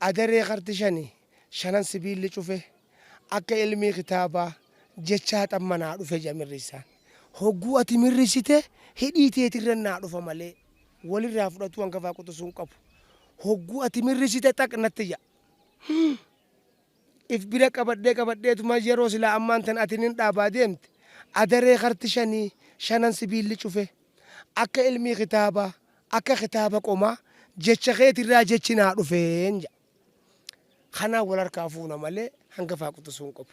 Adaree karti shani shanan sibiilli cufe akka ilmii kitaabaa jecha haxan manaa dhufe ja mirrissaan. Hogguu ati mirrissite hidhii teetirran naa dhufa malee walirraa fudhatuu hangafaa quxusuu hin qabu. Hogguu ati mirrissite xaq natti ja. Hii. if bira qabadhee qabadheetuma yeroo silaa ammaan tana ati nin dhaabaa deemte adaree karti shanii shanan sibiilli cufe akka ilmii kitaabaa akka kitaaba qomaa jecha keetirraa jechi naa dhufeen jedha. Kanaan wal harkaa fuuna malee hangafaa quxusuu hin qabu.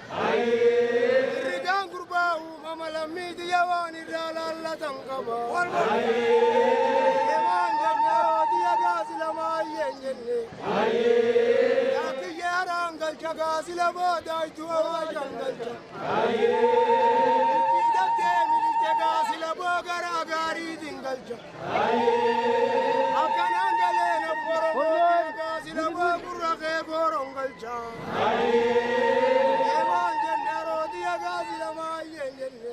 Rigaan gurbaa uumama lammii tiyya waan irraa laallatan qaba. Emaan jennee yoo tiyya gaasi lama ayyeen jenne. Yaa kiyya haraan galcha gaasi lama daaytu awaashan galcha. Itti dabdee miliqxe gaasi lama garaa gaariitiin galcha. Akkanaan galee na boromee egaa sila boo gurra kee gooroon galcha. Eemaan jenne rooti egaa sila maayyeen jenne.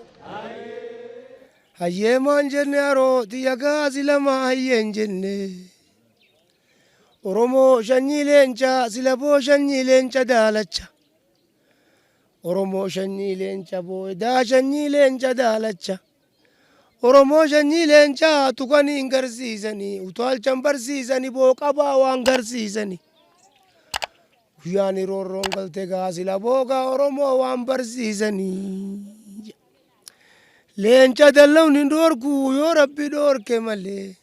Hayyeemaan jenne arooti yagaa silama hayyeen jenne. Oromoo shanyii leenca sila boo shanyii leenca daalacha. Oromoo shanyii leenca boo edaa shanyii leenca daalacha. Oromoo shanyii leencaa tukani hin garsiisani utaalchan barsiisani boo qabaa waan garsiisani. Guyyaani roorroon galte gaa sila boogaa Oromoo waan barsiisani. Leenca dallawni hin dhoorku yoo rabbi dhoorke malee.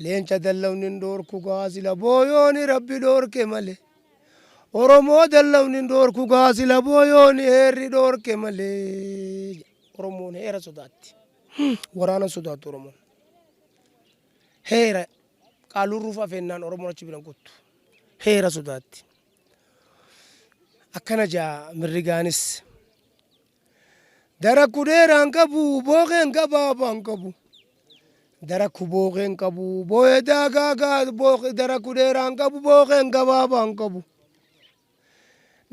Leenca dallawni hin dhoorku gaa sila booyooni rabbi dhoorke male. Oromoo dallawni hin dhoorku gaa sila booyooni heerri dhoorke male. Oromoon heera sodaatti. Waraana hin sodaattu Oromoon. Heera qaalurruuf afeennaan Oromoon achi biran kuttu. Heera sodaatti. Akkana jaa mirrigaanis. Darakku dheeraa hin qabu, bookeen gabaabaa hin qabu. Darakku bookee hin qabu, boo'ee daagaa gaa bookee darakku dheeraa hin qabu, bookeen gabaabaa hin qabu.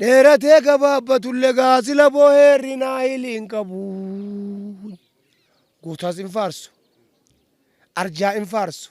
Dheeratee gabaabbatullee gaa sila boo'ee hir'inaa hiilii hin qabu. Gootaas hin faarsu, arjaa hin faarsu.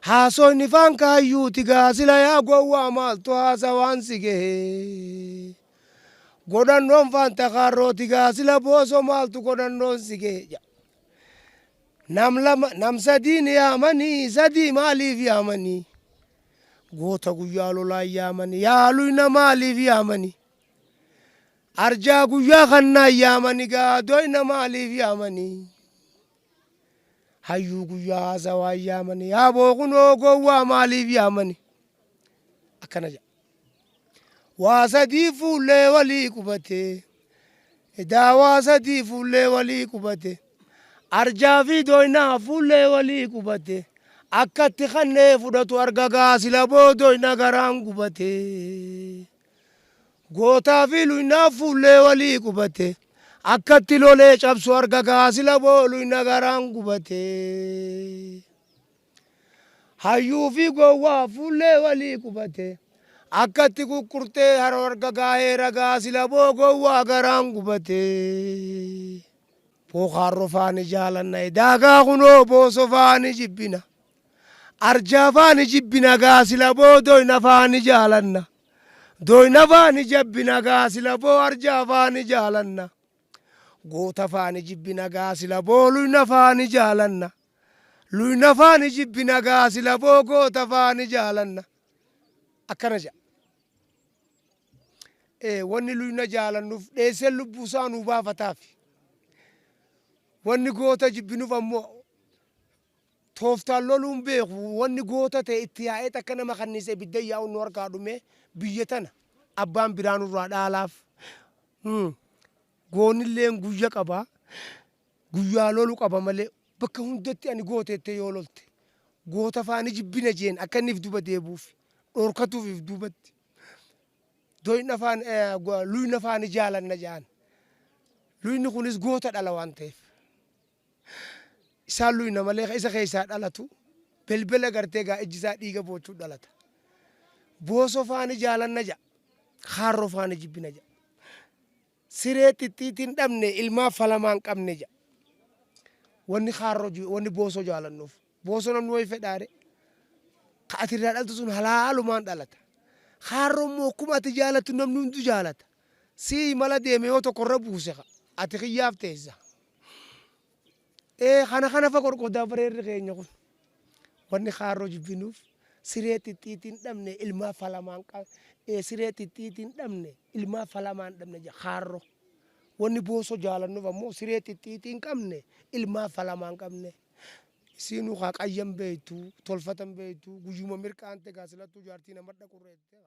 Haasoyni faan kaayyuuti gaa sila yaa gowwaa maaltu haasawaan si gehe. Godhannoon faan takaarrooti gaa sila booso maaltu godhannoon si gehe ja. Nam lama nam sadiin yaamanii sadii maaliif yaamanii. Goota guyyaa lolaan yaamanii yaa luyna maaliif yaamanii. Arjaa guyyaa kannaan yaamanii gaa doyna maaliif yaamanii. hayyuu guyyaa haasawaan yaamani yaaboo kunoo gowwaa maaliif yaamani akkana jedha waa sadii fuullee walii qubatee edaa waa sadii fuullee walii qubatee arjaa fi doynaa fuullee walii qubatee akkatti kannee fudhatu argagaa sila boodoyna garaan gubatee. Gootaa fi luynaa fuullee walii qubate Akkatti lolee cabsu arga kaa sila boo luyna garaan gubate Hayyuu fi gowwaa fuullee walii qubate Akkatti kuqurtee haroo arga kaa heera kaa sila boo gowwaa garaan gubate. Bookaarroo faa ni jaalanna edaa gaa kunoo Booso faa ni jibbina. Arjaa faa ni jibbina gaa sila boo Doyna faa ni jaalanna. Doyna faa ni jabbina gaa sila boo Arjaa faa ni jaalanna. Goota faa ni jibbina gaa sila boo Luyna faa ni jaalanna. Luyna faa ni jibbina gaa sila boo Goota faa ni jaalanna. Akkana jedha. Ee, wanni luyna jaalannuuf dheesseen lubbuu isaa nuu baafataaf. Wanni goota jibbinuuf ammoo tooftaan loluun beeku wanni goota ta'e itti yaa'ee takka nama kanniise ibidda yaa'uun nu harkaa dhumee biyya tana abbaan biraa nurraa dhaalaaf. Hmm. Goonilleen guyya qaba. Guyyaa lolu qaba malee bakka hundatti ani goota jettee yoo lolte goota faa ni jibbina jeen akka inni if duba deebuuf dhorkatuuf if duubatti doyna faa luyna faa ni jaalanna jaan luyni kunis goota dhala waan ta'eef isaan luyna malee isa keessaa dhalatu belbela gartee gaa ijji isaa dhiiga boochuu dhalata booso faa ni jaalanna jaa kaarro faa ni jibbina jaa Siree xixxiitiin dhabne ilmaa falamaan qabne ja. Wanni kaarroo ju wanni boosoo jaalannuuf. Boosoo namni wayi fedhaare. Ka ati irraa dhaltu sun halaalumaan dhalata. Kaarroo immoo akkuma ati jaalattu namni hundu jaalata. Sii imala deeme yoo tokko irra buuse ka ati kiyyaaf teessa. Ee kana kana fa qorqodaa bareerri keenya kun wanni kaarroo jibbinuuf siree xixxiitii hin dhabne ilmaa falamaan qa ee siree xixxiitii hin dhabne ilmaa falamaa hin dhabne ja kaarro wanni boosoo jaalannuuf ammoo siree xixxiitii hin qabne ilmaa falamaa hin qabne isiinuu kaa qayyan beeytu tolfatan beeytu guyyuma mirqaante gaa silattuu jaartii nama dhaqurreette kaa.